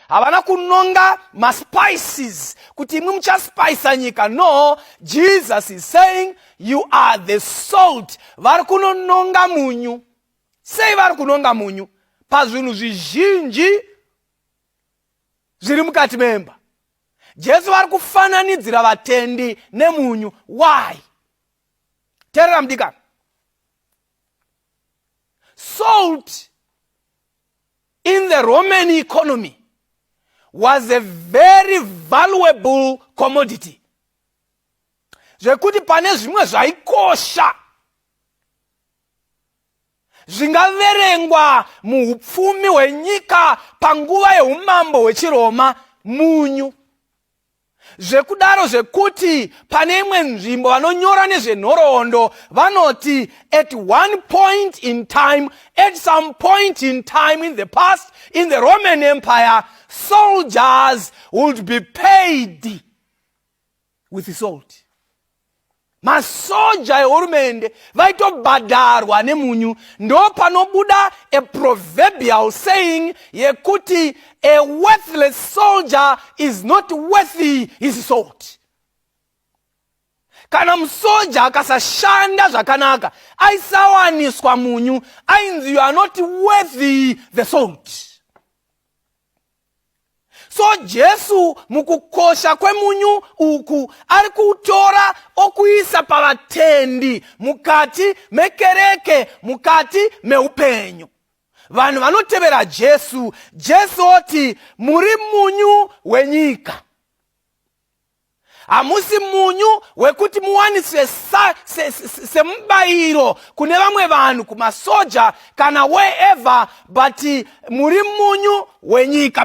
havana kunonga maspices kuti imwe muchaspisa nyika no jesus is saying you are the salt vari kunononga munyu sei vari kunonga munyu pazvinhu zvizhinji zviri mukati memba jesu vari kufananidzira vatendi nemunyu why terera mudikana salt in the Roman economy was a very valuable commodity zvekuti pane zvimwe zvaikosha zvingaverengwa muupfumi hwenyika panguva yeumambo hwechiroma munyu zvekudaro zvekuti pane imwe nzvimbo vanonyora nezvenhoroondo vanoti at one point in time at some point in time in the past in the roman empire soldiers would be paid with salt masoja ehurumende vaitobhadharwa nemunyu ndopanobuda a proverbial saying yekuti a worthless soldier is not worthy his salt kana musoja akasashanda zvakanaka aisawaniswa munyu ainzi you are not worthy the salt so jesu mukukosha kwemunyu uku ari kuutora okuisa pavatendi mukati mekereke mukati meupenyu vanhu vanotevera jesu jesu oti muri munyu wenyika hamusi munyu wekuti muwaniswe semubayiro se, se, se kune vamwe vanhu kumasoja kana wherever but muri munyu wenyika